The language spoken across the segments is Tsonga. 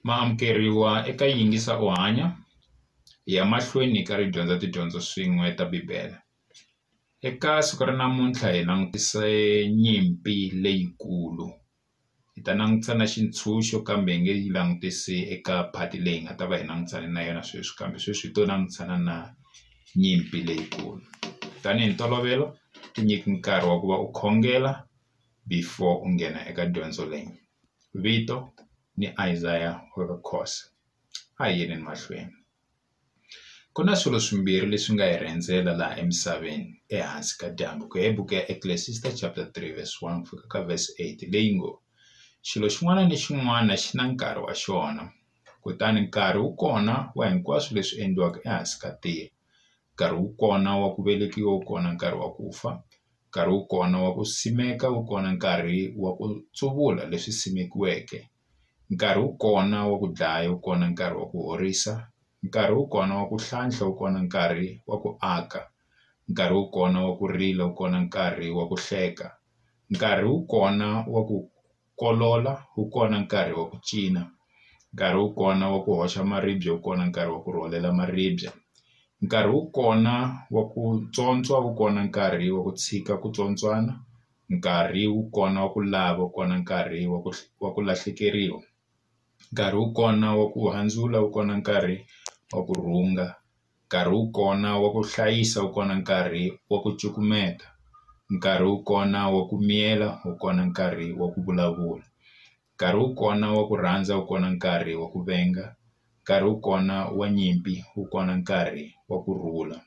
ma amukeriwa eka yingisa u hanya hi ya mahlweni hi karhi hi dyondza tidyondzo swin'we ta bibele eka siku ra namuntlha hi langutise nyimpi leyikulu hi ta langutisa na xitshunxo kambe hi nge yi langutisi eka phati leyi nga ta va hi langutane na yona sweswi kambe sweswi hi to langutana na nyimpi leyikulu tanihi ntolovelo tinyike nkarhi wa ku va u khongela before u nghena eka dyondzo leyi vito ni Isaiah u ri Khosa a hi yeni mahlweni ku na swilo swimbirhi leswi nga hi rhendzela laha emisaveni ehansi ka dyambu ku ya hi buku ya Ecclesiastes chapter three verse one ku fika ka verse eight leyi ngo xilo xin'wana ni xin'wana xi na nkarhi wa xona kutani nkarhi wu kona wa hinkwaswo leswi endliwaka ehansi ka tihlo nkarhi wu kona wa ku velekiwa wu kona nkarhi wa ku fa Nkarhi wu kona wa ku simeka wu kona nkarhi wa ku tsuvula leswi simekiweke nkarhi wu kona wa ku dlaya wu kona nkarhi wa ku horisa nkarhi wu kona wa ku hlantswa wu kona nkarhi wa ku aka nkarhi wu kona wa ku rila wu kona nkarhi wa ku hleka nkarhi wu kona wa ku. kolola wu kona nkarhi wa ku cina nkarhi wu kona wa ku hoxa maribye wu kona nkarhi wa ku rhwalela maribye nkarhi wu kona wa ku tswontswa wu kona nkarhi wa ku tshika ku tswontswana nkarhi wu kona wa ku lava wu kona nkarhi wa ku wa ku lahlekeriwa nkarhi wu kona wa ku handzula wu kona nkarhi wa ku rhunga. Nkarhi wu kona wa ku hlayisa wu kona nkarhi wa ku cukumeta nkarhi wu kona wa ku miyela wu kona nkarhi wa ku vulavula nkarhi wu kona wa ku rhandza wu kona nkarhi wa ku venga nkarhi wu kona wa nyimpi wu kona nkarhi wa ku rhula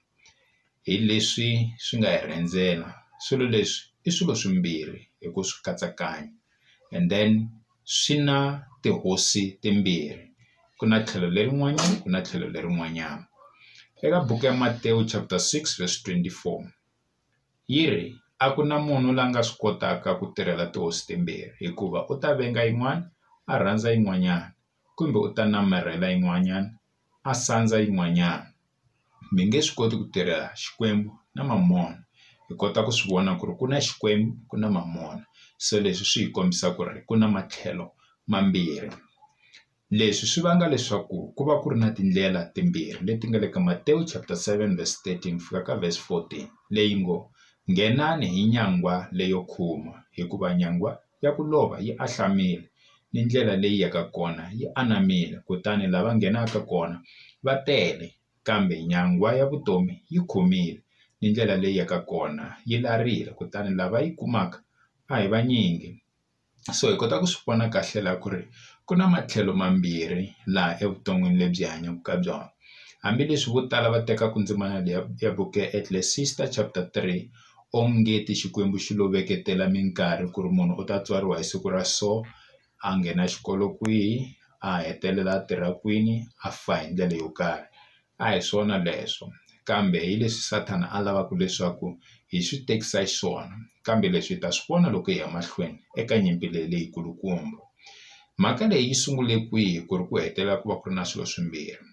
hi leswi swi nga hi rhendzela swilo leswi i swilo swimbirhi hi ku swi katsakanya. and then swi na tihosi timbirhi ku na tlhelo lerin'wanyana ku na tlhelo lerin'wanyana eka buku ya Matewu chapter six verse twenty four yi ri a ku na munhu la nga swi kotaka ku tirhela tihosi timbirhi hikuva u ta venga yin'wana a rhandza yin'wanyana kumbe u ta namarhela yin'wanyana a sandza yin'wanyana mi nge swi koti ku tirha Xikwembu na mamona hi kota ku swi vona ku ri ku na Xikwembu ku na mamona se leswi swi hi kombisa ku ri ku na matlhelo mambirhi leswi swi vanga leswaku ku va ku ri na tindlela timbirhi leti nga le ka Matewu chapter seven verse thirteen fika ka verse fourteen leyi ngo nghenani hi nyangwa leyo khuma hikuva nyangwa. ya ku lova yi anhlamile, ni ndlela leyi yaka kona yi anamile, kutani lava nghenaka kona va tele, kambe nyangwa ya vutomi yi khomile, ni ndlela leyi yaka kona yi larile, kutani lava yi kumaka a hi vanyingi. So hi kota ku swi vona kahle la ku ri ku na matlhelo mambirhi laha evuton'wini lebyi hi hanyaka ka byona. Hambileswi vo tala va tekaka ndzimana leyi ya ya buku ya Ecclesiastes chapter three. onge ti Xikwembu xi lo veketela minkarhi ku ri munhu u ta tswariwa hi siku ra so a nghena xikolo kwihi a hetelela a tirha kwini a fa hi ndlela yo karhi a hi swona leswo kambe hi leswi Sathana a lavaka leswaku hi swi tekisa xiswona kambe leswi hi ta swi vona loko hi ya mahlweni eka nyimpi leyi leyi kulukumba mhaka leyi yi sungule kwihi ku ri ku hetelela ku va ku ri na swilo swimbirhi.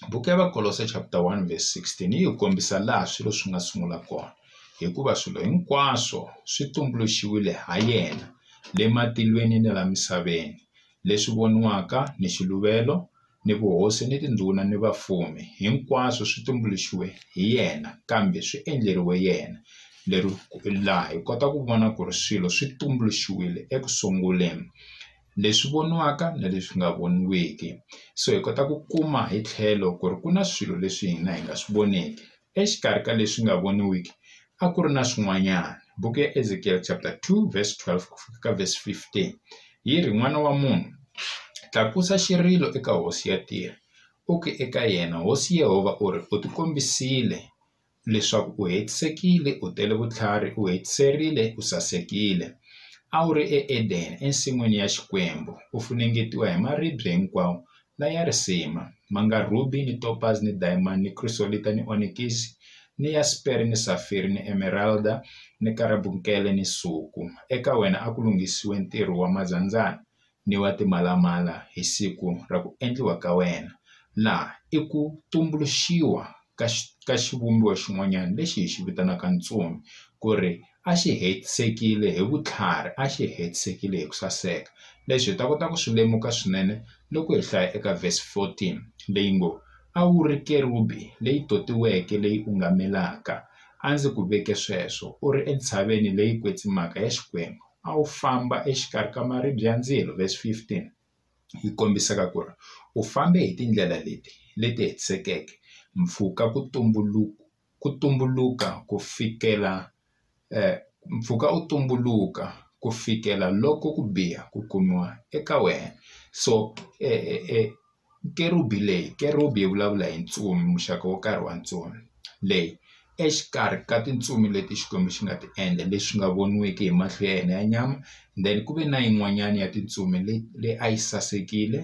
Buku ya Vakolose chapter 1 verse 16 yi hi kombisa laha swilo swi nga sungula kona hikuva swilo hinkwaswo swi tumbuluxiwile ha yena le matilweni ni la misaveni leswi voniwaka ni xiluvelo ni vuhosi ni tindhuna ni vafumi hinkwaswo swi tumbuluxiwe hi yena kambe swi endleriwe yena lero laha hi kota ku vona ku ri swilo swi tumbuluxiwile eku sunguleni. leswi voniwaka na leswi nga voniweki so hi kota ku kuma hi tlhelo ku ri ku na swilo leswi hina hi nga swi voneki exikarhi ka leswi nga voniwiki a ku ri na swin'wanyana buku ya Ezek-el chapter two verse twelve ku fika ka verse fifteen yi ri n'wana wa munhu tlakusa xirilo eka hosi ya tiko u ke eka yena hosi Yehovha u ri u tikombisile leswaku u hetisekile u tele vutlhari u hetiserile u sasekile a wu ri eEden ensin'wini ya Xikwembu u funengetiwa hi maribye hinkwawo la ya risima ma nga rhubi ni topazi ni dayimani ni khrisolita ni onikisi ni yaspere ni safiri ni emeralda ni karabunkele ni nsuku eka wena a ku lunghisiwe ntirho wa mazandzana ni wa timalamala hi siku ra ku endliwa ka wena, na i ku tumbuluxiwa ka ka xivumbiwa xin'wanyana lexi hi xi vitanaka ntsumi ku ri a xi hetisekile hi vutlhari a xi hetisekile hi ku saseka leswi hi ta kota ku swi lemuka swinene loko hi hlaya eka verse fourteen leyi ngo, a wu ri kerubi leyi totiweke leyi ungamelaka a ndzi ku veke sweswo u ri entshaveni leyi kwetsimaka ya Xikwembu. a wu famba exikarhi ka maribye ya ndzilo, verse 15, yi kombisaka ku ri u fambe hi tindlela leti leti hetisekeke mpfhuka ku tumbuluka ku tumbuluka ku fikela eh, mpfhuka u tumbuluka ku fikela loko ku biha ku kumiwa eka wena so eh, eh, eh, Kerubi leyi, Kerubi yi vulavula hi ntsumi, muxaka wo karhi wa ntsumi, leyi, exikarhi ka tintsumi leti Xikwembu xi nga ti endla, leswi nga voniwiki hi mahlo ya hina ya nyama, then ku ve na yin'wanyana ya tintsumi leyi a yi sasekile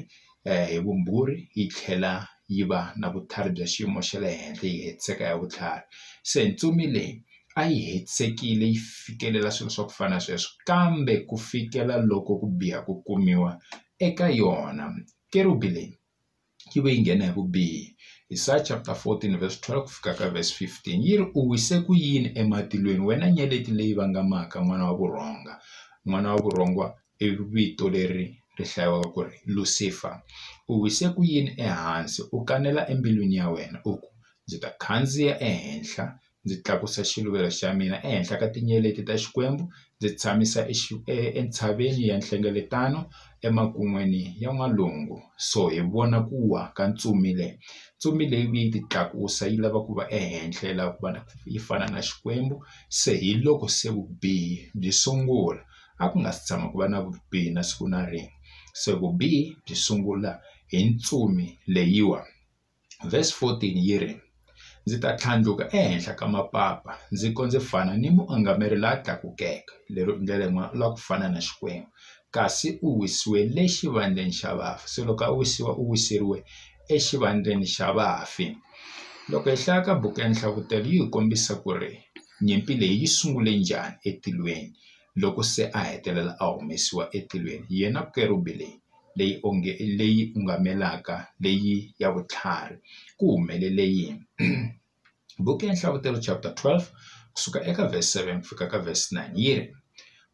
hi vumbhuri yi tlhela yi va na vutlhari bya xiyimo xa le henhla yi hetiseka ya vutlhari. Se ntsumi leyi a yi hetisekile yi fikelela swilo swa ku fana na sweswo kambe ku fikela loko ku biha ku kumiwa eka yona. Kerubi leyi yi ve yi nghena hi vubihi. Isaya chapter 14 verse 12 fika ka verse 15 yi ri, U wise ku yini ematilweni wena nyeleti leyi vangamaka n'wana wa vurhonga? N'wana wa vurhonga i vito leri ri hlayiwaka ku ri Lusifa. U wise ku yini ehansi u kanela embilwini ya wena u ku, Ndzi ta khandziya ehenhla ndzi tlakusa xiluvelo xa mina ehenhla ka tinyeleti ta Xikwembu ndzi tshamisa entshaveni ya nhlengeletano emakun'wini ya n'walungu so hi vona ku wa ka ntsumi le ntsumi leyi vuye yi ti tlakusa yi lava ku va ehenhla yi lava ku va na yi fana na Xikwembu se hi loko se vubihi byi sungula a ku nga si tshama ku va na vubihi na siku na rin'we se vubihi byi sungula hi ntsumi leyiwa. Vhesi 14 yi ri, Ndzi ta tlhandluka ehenhla ka mapapa ndzi ko ndzi fana ni muangameri la tlakukeke, lero i ndlela yin'wana u lava ku fana na Xikwembu, kasi u wisiwe le xivandleni xa vafi. Se loko a wisiwa u wiseriwe exivandleni xa vafi. Loko hi hlaya ka buku ya Nhlavutelo yi hi kombisa ku ri nyimpi leyi yi sungule njhani etilweni loko se a hetelela a humesiwa etilweni, yena kerubhi leyi leyi onge leyi ungamelaka leyi ya vutlhari ku humelele yini buku ya nhlavutelo chapter 12 kusuka eka verse 7 ku fika ka verse 9 yi ri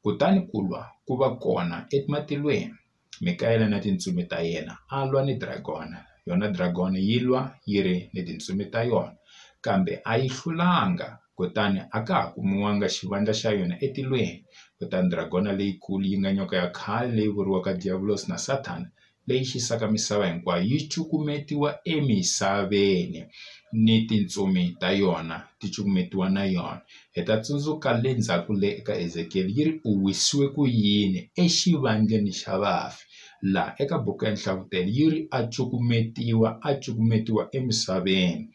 kutani ku lwa ku va kona ematilweni mikayela na tintsumi ta yena a lwa ni dragona yona dragona yi lwa yi ri ni tintsumi ta yona kambe a yi hlulanga kutani a ka ha kumiwanga xivandla xa yona etilweni. Kutani dragona leyikulu yi nga nyoka ya khale leyi vuriwaka Diyavulosi na Sathana, leyi xisaka misava hinkwayo yi cukumetiwa emisaveni, ni tintsumi ta yona ti cukumetiwa na yona. Hi ta tsundzuka le ndzhaku le eka Ezekiyele yi ri u wisiwe ku yini exivandleni xa vafi, laha eka buku ya Nhlavutelo yi ri a cukumetiwa, a cukumetiwa emisaveni.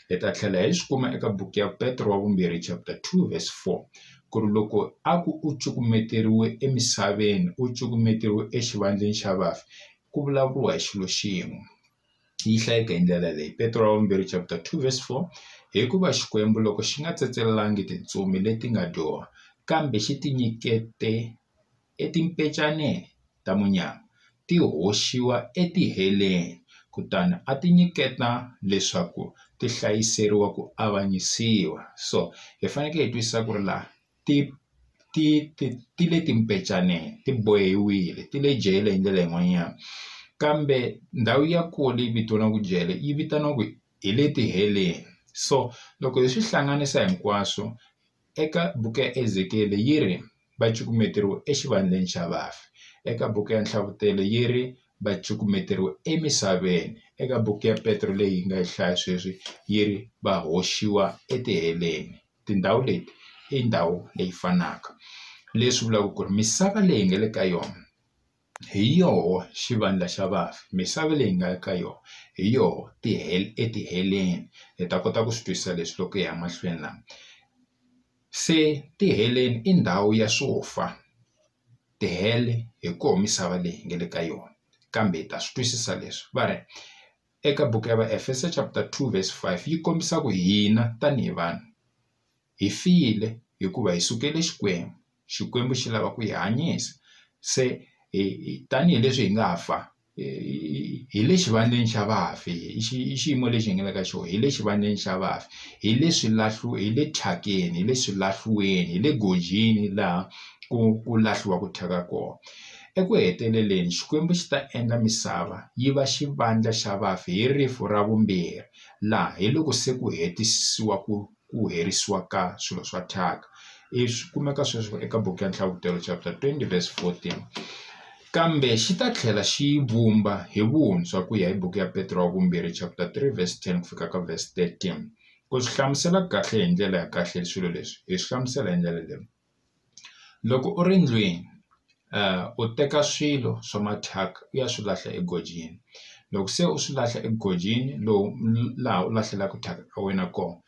Hi ta tlhela hi swi kuma eka buku ya Petro wa Vumbirhi chapter 2 verse 4 ku ri loko a ku u cukumeteriwe emisaveni u cukumeteriwe exivandleni xa vafi ku vulavuriwa hi xilo xin'we yi hlayeka hi ndlela leyi Petro wa Vumbirhi chapter 2 verse 4 hikuva xikwembu loko xi nga tsetselangi tintsumi leti nga dyoha kambe xi tinyikete e timpecaneni ta munyama ti hoxiwa e tiheleni kutani a ti nyiketa leswaku ti hlayiseriwa ku avanyisiwa so hi fanekele hi twisisa ku ri laha ti ti ti ti le timpecaneni ti bohiwile ti le jele hi ndlela yin'wanyana kambe ndhawu ya kona leyi vitaniwaka jele yi vitaniwaku hi le tiheleni so loko hi swi hlanganisa hinkwaswo Eka buku ya Ezekiyele yi ri, Va cukumeteriwe exivandleni xa vafi. Eka buku ya Nhlavutelo yi ri, Va cukumeteriwe emisaveni. Eka buku ya Petro leyi hi nga yi hlaya sweswi yi ri, Va hoxiwa etiheleni. Tindhawu leti i ndhawu leyi fanaka, leswi vulaka ku ri misava leyi hi nga le ka yona, Hi yoho xivandla xa vafi, misava leyi hi nga ka yona hi yoho ti etiheleni hi ta kota ku swi twisisa leswi loko hi ya mahlweni lama se tiheleni i ndhawu ya swo fa tihele hi koho misava leyi hi nga le ka yona kambe hi ta swi twisisa leswi va ri eka buku ya va Efeso chapter two verse five yi kombisa ku hina tanihi vanhu. Hi file hikuva hi sukele Xikwembu, Xikwembu xi lava ku hi hanyisa. Se hi hi tanihi leswi hi nga fa hi hi le xivandleni xa vafi i xi i xiyimo lexi hi nga le ka xona hi le xivandleni xa vafi hi le swi lahlu hi le thyakeni hi le swilahliweni hi le gojini laha ku ku lahliwaka thyaka kona. Eku heteleleni Xikwembu xi ta endla misava yi va xivandla xa vafi hi rifu ra vumbirhi laha hi loko se ku hetisisiwa ku ku herisiwa ka swilo swa thyaka i swi kumeka sweswo eka buku ya nhlavutelo chapter 20 verse 14 kambe xi ta tlhela xi yi vumba hi vuntshwa ku ya hi buku ya petro wa vumbirhi chapter 3 verse 10 ku fika ka verse 13 ku swi hlamusela kahle hi ndlela ya kahle swilo leswi hi swi hlamusela hi ndlela leyi Loko u ri ndlwini u teka swilo swa mathyaka u ya swi lahla egojeni loko se u swi lahla egojeni lowu laha u lahlelaka thyaka ra wena kona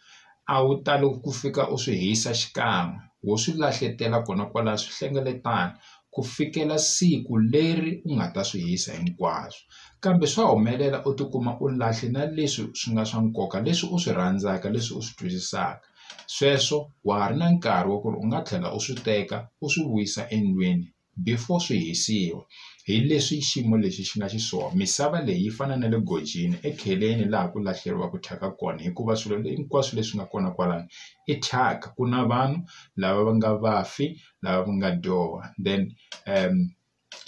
a wu tali ku fika u swi hisa xikan'we wo swi lahletela kona kwala swi hlengeletana ku fikela siku leri u nga ta swi hisa hinkwaswo kambe swa humelela u tikuma u lahle na leswi swi nga swa nkoka leswi u swi rhandzaka leswi u swi twisisaka Sweswo wa ha ri na nkarhi wa ku ri u nga tlhela u swi teka u swi vuyisa endlwini before swi hisiwa. Hi leswi xiyimo lexi xi nga xiswona. Misava leyi yi fana na le gojini ekheleni laha ku lahleriwaka thyaka kona hikuva swilo hinkwaswo leswi nga kona kwalano i thyaka. Ku na vanhu lava va nga vafi, lava va nga dyoha then .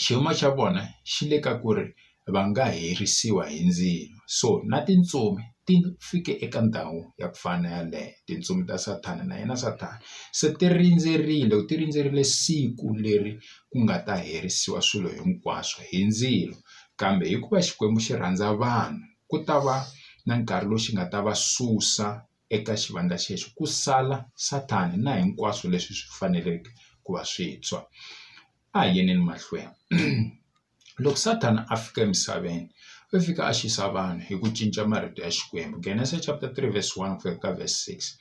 xiyimo xa vona xi le ka ku ri va nga herisiwa hi ndzilo so na tintsumi ti fike eka ndhawu ya ku fana na yaleyo tintsumi ta sathana na yena sathana se ti rindzerile ti rindzerile siku leri ku nga ta herisiwa swilo hinkwaswo hi ndzilo kambe hikuva Xikwembu xi rhandza vanhu ku ta va na nkarhi lowu xi nga ta va susa eka xivandla xexo ku sala Sathana na hinkwaswo leswi swi faneleke ku va swintshwa. A hi yeneni mahlweni. Loko Sathana a fika emisaveni u fika a xisa vanhu hi ku cinca marito ya Xikwembu, Genesis chapter three verse one ku ya ka verse six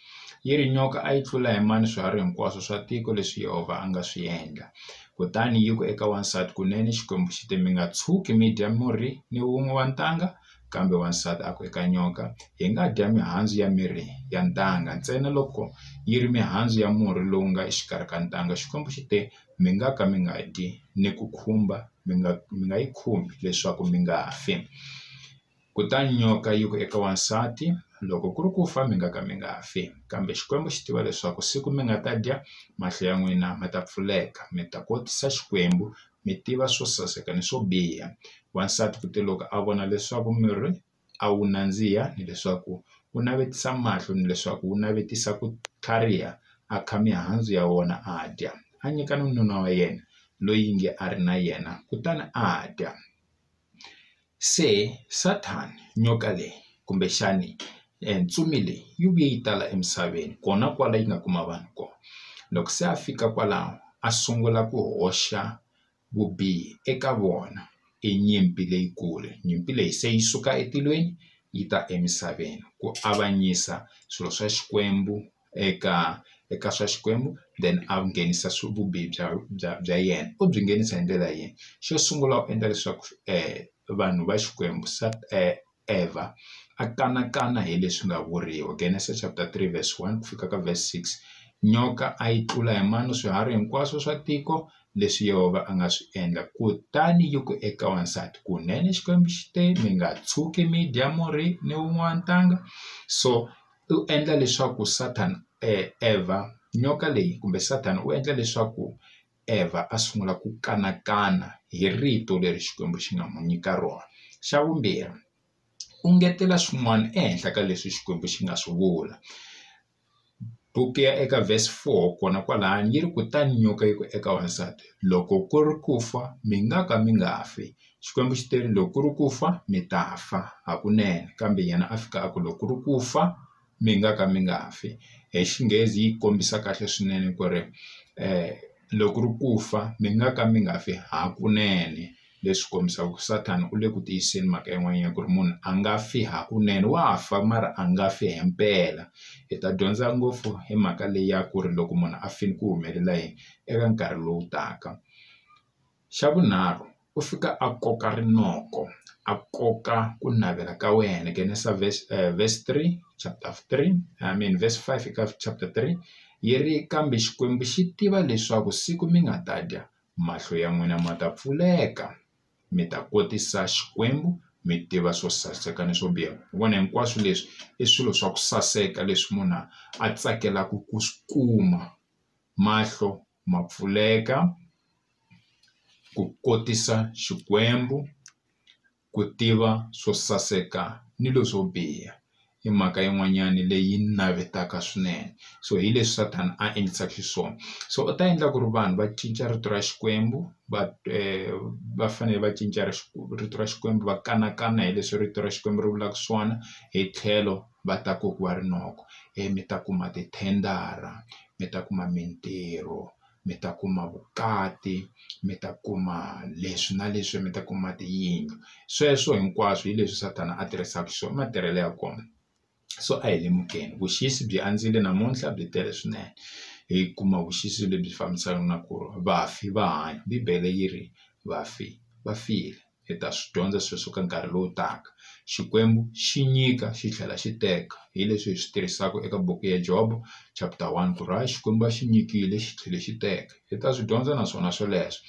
yi ri, Nyoka a yi tlula hi mani swiharhi hinkwaswo swa tiko leswi Yehovha a nga swi endla? Kutani yi ku eka wansati, Kunene Xikwembu xi te, Mi nga tshuki mi dya murhi ni wun'we wa ntanga, kambe wansati a ku eka nyoka, Hi nga dya mihandzu ya mirhi ya ntanga ntsena loko yi ri mihandzu ya murhi lowu nga exikarhi ka ntanga. Xikwembu xi te, Mi nga ka mi nga dyi, ni ku khumba mi nga mi nga yi khumbi leswaku mi nga fi. Kutani nyoka yi ku eka wansati, Loko ku ri ku fa mi nga ka mi nga fi. Kambe Xikwembu xi tiva leswaku siku mi nga ta dya, mahlo ya n'wina ma ta pfuleka, mi ta kotisa Xikwembu, mi tiva swo saseka ni swo biha wansati ku te loko a vona leswaku mirhi a wu nandziha hileswaku u navetisa mahlo ni leswaku wu navetisa ku tlhariha a kha mihandzu ya wona a dya a nyika ni nuna wa yena loyi nge a ri na yena kutani a dya Se, Sathana, nyoka leyi, kumbexani ntsumi leyi, yi vuye yi tala emisaveni, kona kwala yi nga kuma vanhu kona. Loko se a fika kwalaho, a sungula ku hoxa vubihi eka vona. I nyimpi leyikulu. Nyimpi leyi se yi suka etilweni yi ta emisaveni, ku avanyisa swilo swa Xikwembu eka eka swa Xikwembu then a nghenisa swa vubihi bya bya bya yena u byi nghenisa hi ndlela yini xo sungula u endla leswaku vanhu va Xikwembu Evha a kanakana hi leswi nga vuriwa Genesis chapter three verse one ku fika ka verse six nyoka a yi tlula hi mano swiharhi hinkwaswo swa tiko leswi Yehovha a nga swi endla kutani yi ku eka wansati kunene Xikwembu xi te mi nga tshuki mi dya murhi ni wun'wana ntanga so u endla leswaku Sathana Evha nyoka leyi kumbe Sathana u endla leswaku Evha a sungula ku kanakana hi rito leri Xikwembu xi nga n'wi nyika rona xa vumbirhi u ngetela swin'wana ehenhla ka leswi Xikwembu xi nga swi vula buku ya eka verse four kona kwalano yi ri kutani nyoka yi ku eka wansati loko ku ri ku fa mi nga ka mi nga fi Xikwembu xi te loko ku ri ku fa mi ta fa hakunene kambe yena a fika a ku loko ku ri ku fa mi nga ka mi nga fi hi Xinghezi yi kombisa kahle swinene ku ri loko ku ri ku fa mi nga ka mi nga fi hakunene leswi kombisaka ku Sathana u le ku tiyiseni mhaka yin'wanyana ku ri munhu a nga fi hakunene wa fa mara a nga fi hi mpela hi ta dyondza ngopfu hi mhaka leyi ya ku ri loko munhu a file ku humelela yini eka nkarhi lowu taka. Xa vunharhu u fika a koka rinoko a koka ku navela ka wena nghenisa verse verse three chapter three I mean verse five eka chapter three yi ri kambe Xikwembu xi tiva leswaku siku mi nga ta dya mahlo ya n'wina ma ta pfuleka mi ta kotisa Xikwembu mi tiva swo saseka ni swo biha hi vona hinkwaswo leswi i swilo swa ku saseka leswi munhu a tsakelaku ku swi kuma mahlo. ma pfuleka ku kotisa Xikwembu ku tiva swo saseka ni leswo biha i mhaka yin'wanyana leyi ni navetaka swinene so hi leswi Sathana a endlisaka xiswona so u ta endla ku ri vanhu va cinca rito ra Xikwembu va va fanele va cinca ra rito ra Xikwembu va kanakana hi leswi rito ra Xikwembu ri vulaka swona hi tlhelo va ta kokiwa rinoko ivi mi ta kuma tithendara mi ta kuma mintirho mi ta kuma vukati mi ta kuma leswi na leswi mi ta kuma tiyindlu sweswo hinkwaswo hi leswi sathana a tirhisaka swona i matirhelo ya kona so a hi lemukeni vuxisi byi andzile namuntlha byi tele swinene hi kuma vuxisi lebyi fambisanaka na ku ri vafi va hanya bibele yi ri vafi va file. hi ta swi dyondza sweswo ka nkarhi lowu taka. Xikwembu xi nyika xi tlhela xi teka hi leswi hi swi tirhisaka eka buku ya Jobo chapter one ku ri hayi Xikwembu a xi nyikile xi tlhela xi teka hi ta swi dyondza naswona swoleswo.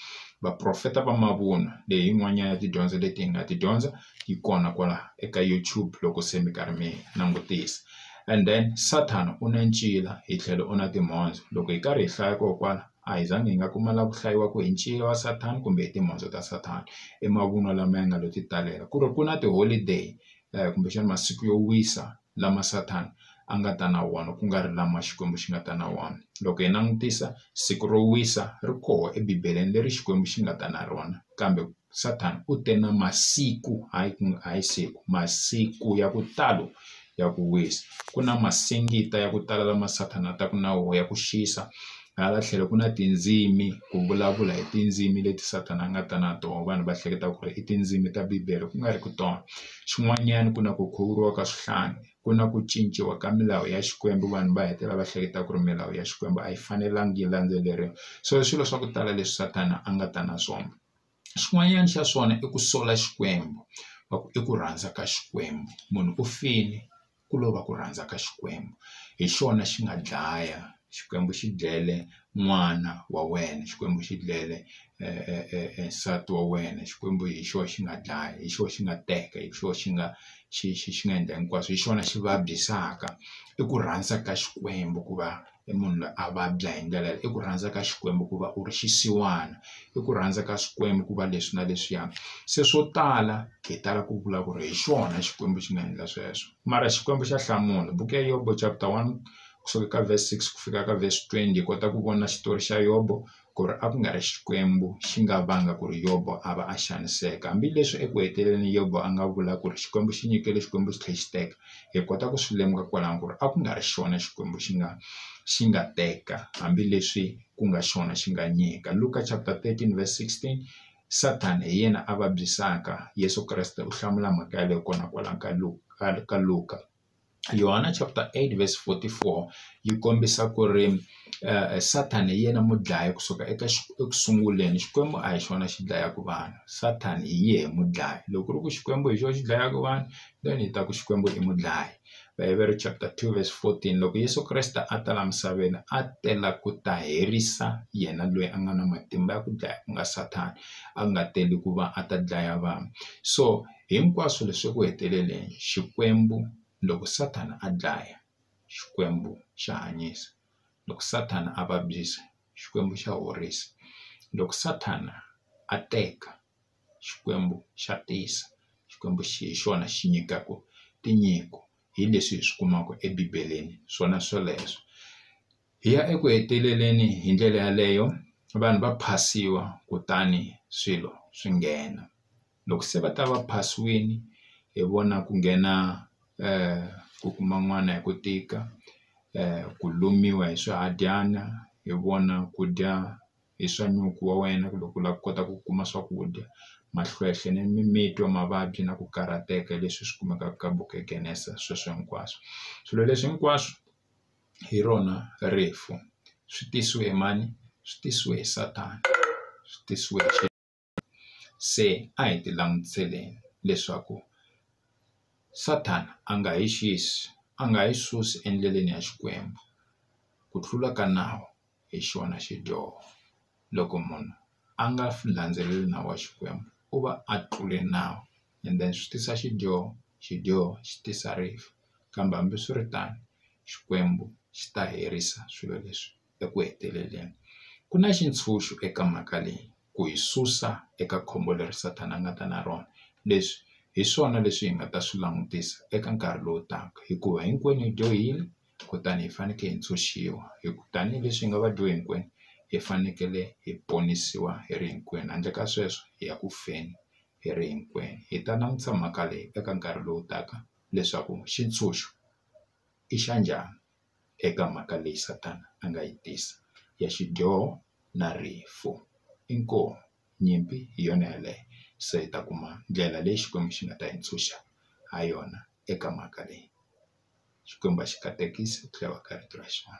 Vaprofeta va mavunwa leyi hi yin'wanyana ya tidyondzo leti hi nga ti dyondza yi kona kwala eka YouTube loko se mi karhi mi langutisa and then Sathana u na ncila hi tlhelo u na timhondzo loko hi karhi hi hlaya koho kwala a hi zangi hi nga kuma la ku hlayiwa ku hi ncila wa Sathana kumbe hi timhondzo ta Sathana i mavunwa lama ya nga lo titalela ku ri ku na ti-holiday kumbexana masiku yo wisa lama Sathana a nga ta na wona ku nga ri lama Xikwembu xi nga ta na wona loko hi langutisa siku ro wisa ri koho ebibeleni leri Xikwembu xi nga ta na rona kambe. Sathana u te na masiku hayi ku hayi siku masiku ya ku talo ya ku wisa ku na masingita ya ku tala lama Sathana a taka na wona ya ku xisa hala tlhelo ku na tindzimi ku vulavula hi tindzimi leti Sathana a nga ta na tona vanhu va hleketa ku ri i tindzimi ta bibele ku nga ri ku tona xin'wanyana ku na ku khuvuriwa ka swihlangi ku na ku cinciwa ka milawu ya Xikwembu vanhu va hetelela va hleketa ku ri milawu ya Xikwembu a yi fanelanga yi landzeleriwa so swilo swa ku tala leswi Sathana a nga ta na swona. xin'wanyana xa swona i ku sola Xikwembu va ku i ku rhandza ka Xikwembu munhu u fini ku lova ku rhandza ka Xikwembu hi xona xi nga dlaya Xikwembu xi dlele n'wana wa wena Xikwembu xi dlele nsati wa wena Xikwembu hi xona xi nga dlaya hi xona xi nga teka hi xona xi nga xi xi xi nga endla hinkwaswo hi xona xi vabyisaka i ku rhandza ka Xikwembu ku va. i munhu loyi a vabya hi ndlela i ku rhandza ka Xikwembu ku va u ri xisiwana i ku rhandza ka Xikwembu ku va leswi na leswiya se swo tala hi tala ku vula ku ri hi xona Xikwembu xi nga endla sweswo mara Xikwembu xa hlamula buku ya Yobo chapter one kusuka ka verse six ku fika ka verse twenty hi kota ku vona xitori xa Yobo ku ri a ku nga ri Xikwembu xi nga vanga ku ri Yobo a va a xaniseka hambileswi eku heteleleni Yobo a nga vula ku ri Xikwembu xi nyikele Xikwembu xi tlhela xi teka hi kota ku swi lemuka kwalano ku ri a ku nga ri xona Xikwembu xi nga xi nga teka hambileswi ku nga xona xi nga nyika Luka chapter thirteen verse sixteen Sathana hi yena a vabyisaka Yeso Kreste u hlamula mhaka yaleyo kona kwalano ka ka Luka. Yohana chapter 8 verse 44 yi kombisa ku ri Sathana hi yena mudlayi kusuka eka eku sunguleni Xikwembu a hi xona xi dlayaka vanhu Sathana hi yehe mudlayi loko ku ri ku Xikwembu hi xona xi dlayaka vanhu then hi ta ku Xikwembu i mudlayi Vaheveri chapter 2 verse 14 loko Yeso Kreste a ta la misaveni a tela ku ta herisa yena loyi a nga na matimba ya ku dlaya ku nga Sathana a nga teli ku va a ta dlaya vanhu so. Hinkwaswo leswi eku heteleleni Xikwembu loko Sathana a dlaya, Xikwembu xa hanyisa, loko Sathana a vabyisa, Xikwembu xa horisa, loko Sathana a teka, Xikwembu xa tisa. Xikwembu hi xona xi nyikaka tinyiko, hi leswi hi swi kumaka eBibeleni swona swoleswo. Hi ya eku heteleleni hi ndlela yaleyo vanhu va phasiwa kutani swilo swi nghena. loko se va ta va phasiwile hi vona ku nghena ku kuma n'wana hi ku tika ku lumiwa hi swihadyana hi vona ku dya hi swa nyuku wa wena ku loko u lava ku kota ku kuma swakudya mahlwehlwe ni mimitwa mavabyi na ku karhateka hi leswi swi kumekaka ka buku ya Genese sweswo hinkwaswo swilo leswi hinkwaswo hi rona rifu swi tisiwe hi mani swi tisiwe hi Sathana swi tisiwe hi . se a hi ti langutiseleni leswaku Sathana a nga hi xisi a nga yi susi endleleni ya Xikwembu ku tlula ka nawu hi xona xidyoho loko munhu a nga landzeleli nawu wa Xikwembu u va a tlule nawu and then swi tisa xidyoho xidyoho xi tisa rifu kambe hambiswiritano Xikwembu xi ta herisa swilo leswi. eku heteleleni, ku na xitshunxo eka mhaka leyi, ku hi susa eka khombo leri Sathana a nga ta na rona. Leswi hi swona leswi hi nga ta swi langutisa eka nkarhi lowu taka, hikuva hinkwenu hi dyohile kutani hi fanekele hi ntshunxiwa, hi ku tanihi leswi hi nga vadyohi hinkwenu, hi fanekele hi ponisiwa hi ri hinkwenu, handle ka sweswo hi ya ku feni hi ri hinkwenu. Hi ta langutisa mhaka leyi eka nkarhi lowu taka leswaku xitshunxo i xa njhani. eka mhaka leyi Sathana a nga yi tisa ya xidyoho na rifu. Inkomu nyimpi hi yona yaleyo se hi ta kuma ndlela leyi Xikwembu xi nga ta hi ntshunxa ha yona eka mhaka leyi. Xikwembu a xi katekisi ku tlhela va ka rito ra xona.